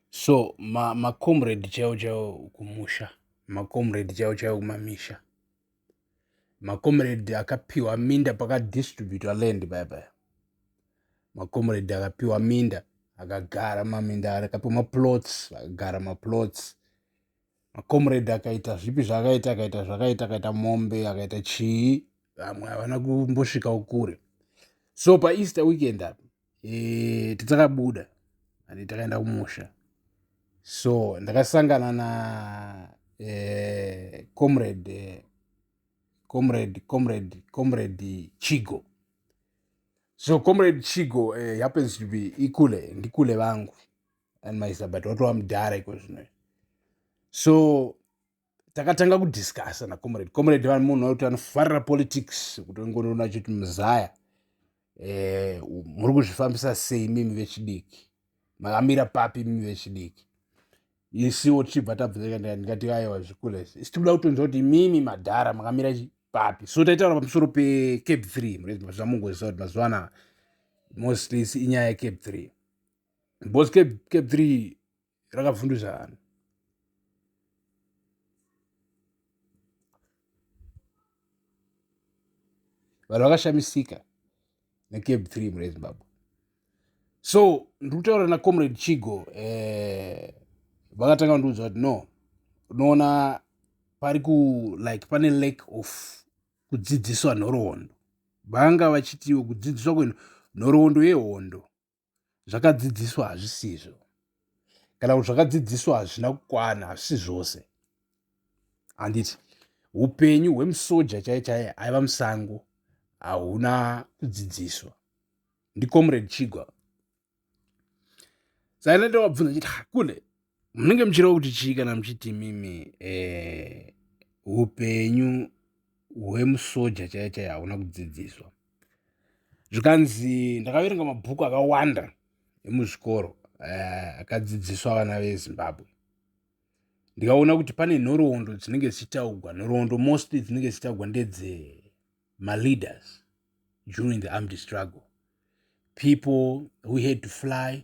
so ma, ma comrade chaiwo chaiwo kumusha ma comrade chaiwo chaiwo kumamisha ma comrade akapiwa minda paka distributor land bye bye ma comrade akapiwa minda akagara maminda akapiwa ma plots akagara ma plots ma comrade akaita zvipi zvakaita akaita zvakaita akaita mombe akaita chii vamwe havana kumbosvika kure so pa easter weekend apa e, tidzakabuda and takaenda kumusha so ndakasangana na e, comrade e, comrade comrade comrade chigo so comrade chigo uh, happens to be ikule ndikule vangu and mysa but watova mudhara iko zvino so takatanga kudiscussa nacomrade comrade vanhu munhu wekuti anofarira politics kuti ngonona chiti muzaya eh, muri kuzvifambisa sei mimi vechidiki makamira papi mimi vechidiki isiwo tichibva tabvuzaa ndikati aiwa zvikulez isi tikuda kutonzwa kuti mimi madhara makamira papi so taitaura pamusoro pecape three murezvamungozisa kuti mazuva anaa mostly inyaya yecape three because cape three rakavhunduzana vanhu vakashamisika necape three mune zimbabwe so ndiri kutaura nacomrade chigo eh, vakatanga kundiudza kuti no unoona pari ku like pane lack of kudzidziswa nhoroondo vanga vachitiwo kudzidziswa kwenhoroondo yehondo zvakadzidziswa hazvisizvo kana kuti zvakadzidziswa hazvina kukwana hazvisi zvose handiti upenyu hwemusoja chaiye chaiye aiva musango hauna kudzidziswa ndicomrade chigwa sainatowabvunza chiti hakune munenge muchireva kuti chii kana muchiti mimi eh, upenyu eh, hwemusoja chaiye chaiye hauna kudzidziswa zvikanzi ndakaverenga mabhuku akawanda emuzvikoro eh, akadzidziswa eh, vana vezimbabwe ndikaona kuti pane nhoroondo dzinenge dzichitaugwa nhoroondo mostly dzinenge dzichitaugwa ndedze maleaders during the armed struggle people who had to fly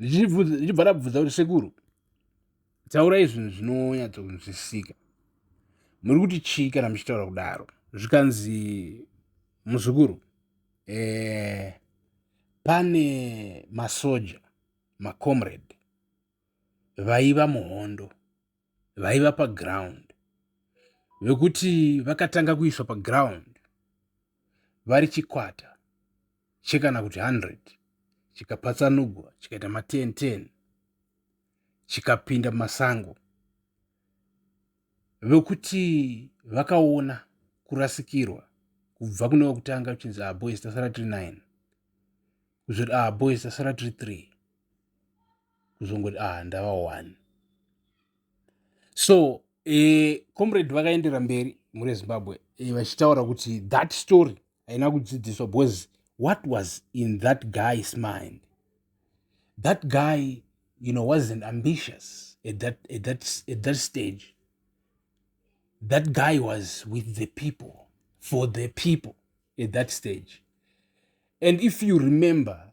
ndichibva rabvunza kuti sekuru taurai zvinhu zvinonyatsokunzwisisika muri kuti chii kana muchitaura kudaro zvikanzi muzukuru eh, pane masoja macomrade vaiva muhondo vaiva paground vekuti vakatanga kuiswa paground vari chikwata chekana kuti 100 chikapatsanugwa chikaita ma 10 10 chikapinda masango vekuti vakaona kurasikirwa kubva kune wekutanga kuchinzi ah boys tasara tiri 9 kuzoti ah boys tasara tiri 3 kuzongoti ah ndava one so eh, comrade vakaendera mberi mhuri yezimbabwe eh, vachitaura kuti that story haina kudzidziswa because what was in that guy's mind that guy you know wasn't ambitious at that, at that, at that stage that guy was with the people for the people at that stage and if you remember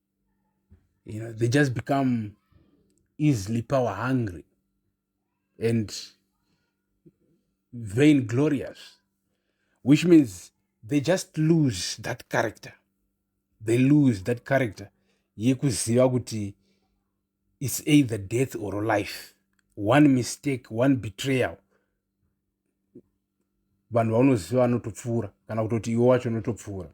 you know they just become easily power hungry and vain glorious which means they just lose that character they lose that character yekuziva kuti it's either death or life one mistake one betrayal vanhu vaunoziva vanotopfuura kana kutoti iwe wacho unotopfuura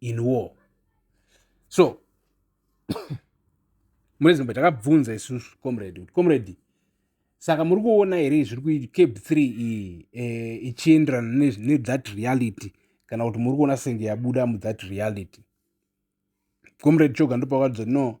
in war so mune zimbabwe takabvunza isusu comrade kuti comrade saka muri kuona here zviri kuicab three iyi e, ichienderana nethat reality kana kuti muri kuona senge yabuda muthat reality comrade choga ndopakadza no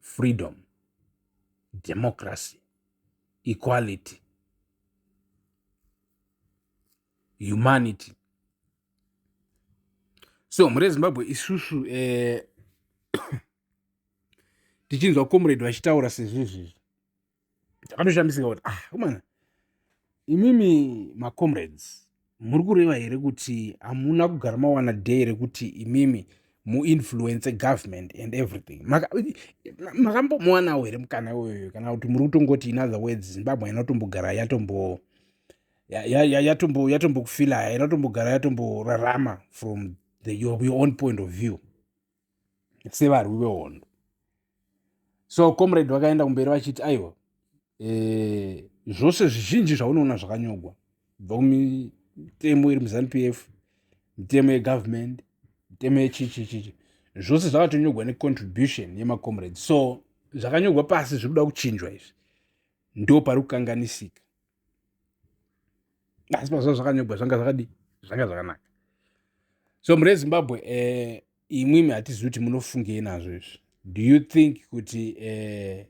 freedom democracy equality humanity so mhuri yezimbabwe isusu eh, tichinzwa comrade vachitaura sezvizvizvi ndakatoshamisika kuti ah komana imimi macomrades muri kureva here kuti hamuna kugara mawana day rekuti imimi muinfluence government and everything makambomuwanawo here mukana iwoyoyo kana kuti muri kutongoti in other words zimbabwe haina kutombogara yatombo yatombo yatombokufila haina kutombogara yatomborarama from the, your, your own point of view sevarwi vehondo so comrade vakaenda kumberi vachiti aiwa e, zvose zvizhinji zvaunoona zvakanyogwa bva kumitemo iri muzanu p f mitemo yegovernment mitemo yechichichichi zvose zvakatonyogwa necontribution yemacomrade so zvakanyogwa pasi zviri kuda kuchinjwa izvi ndo pari kukanganisika asi pazva zvakanyogwa zvanga zvakadii zvanga zvakanaka so mure zimbabwe eh, imwimi hatizivi kuti munofungei nazvo izvi do you think kuti eh,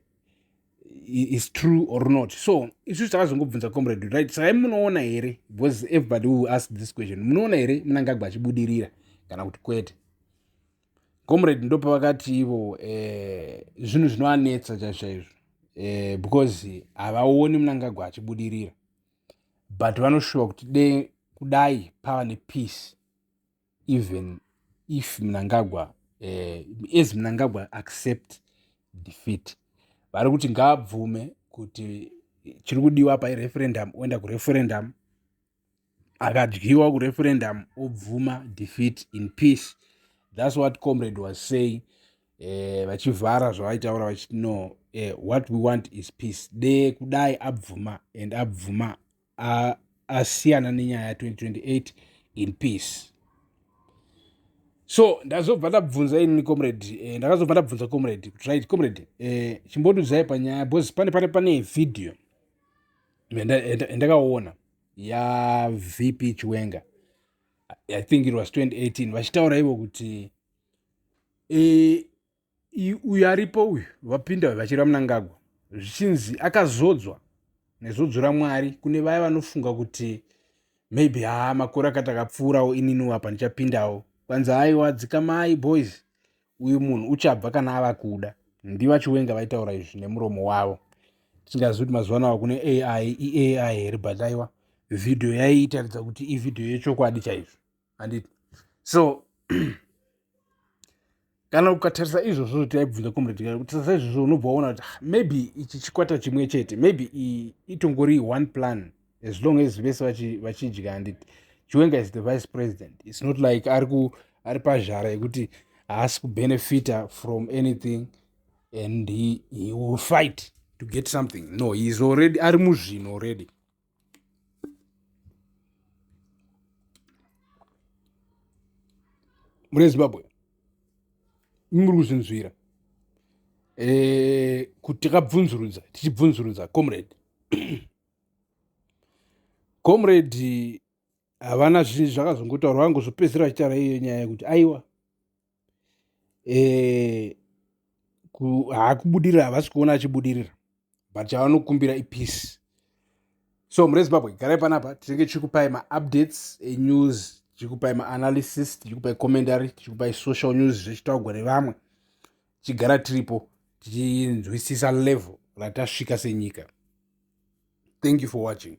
is true or not so isu takazongobvunza comrade right saka munoona here because everybody will ask this question munoona here munangagwa achibudirira kana kuti kwete comrade ndopavakati ivo eh, zvinhu zvinovanetsa chaizvo chaizvo eh, because havaoni munangagwa achibudirira but vanoshuva kuti de kudai pava nepeace even if munangagwa eh, as munangagwa accept defeat vari kuti ngaabvume kuti chiri kudiwa apa ireferendum oenda kureferendum akadyiwa kureferendum obvuma defeat in peace thats what comrade was saying eh, vachivhara uh, zvavaitaura vachiti no uh, what we want is peace de kudai abvuma and abvuma asiyana uh, nenyaya 2028 in peace so ndazobva ndabvunza ini comrade eh, ndakazobva ndabvunza comrade right comrade eh, chimbodudzai panyaya bcause pane pane pane vhidhiyo yandakaona yavp chiwenga i think it was 2018 vachitaura ivo kuti e, uyu aripo uyu vapinda uyu vachireva munangagwa zvichinzi akazodzwa nezodzo ramwari kune vaya vanofunga kuti maybe haa makore akati akapfuurawo ininiwo apa ndichapindawo kwanzi haiwa dzikamai boys uyu munhu uchabva kana ava kuda ndivachiwenga vaitaura izvi nemuromo wavo tingazivi kuti mazuva anava kune ai iai here but aiwa vhidhiyo yaiitaridza kuti ivhidhiyo yechokwadi chaizvo handiti so kana ukatarisa izvozvo taibvunza comrade gari kutarisa izvozvo unobva waona kuti ah, maybe ichi chikwata chimwe chete maybe itongori one plan as long as vese vachidya and chiwenga is the vice president its not like ari pazhara yekuti haasi kubenefita from anything and he, he will fight to get something no heis already ari muzvino already mune zimbabwe muri kuzvinzwira e, eh, kuti takabvunzurudza tichibvunzurudza comrade comrade havana zvinhu zvakazongotaura vangu zvopedzisira vachitaura iyo nyaya yekuti aiwa eh, haakubudirira havasi kuona achibudirira but chavanokumbira ipeace so mure zimbabwe garai panapa tinenge tichikupai maupdates enews tichikupai maanalysis tichikupai commentary tichikupai social news zvechitaugwa nevamwe tichigara tiripo tichinzwisisa level ratasvika senyika thank you for watching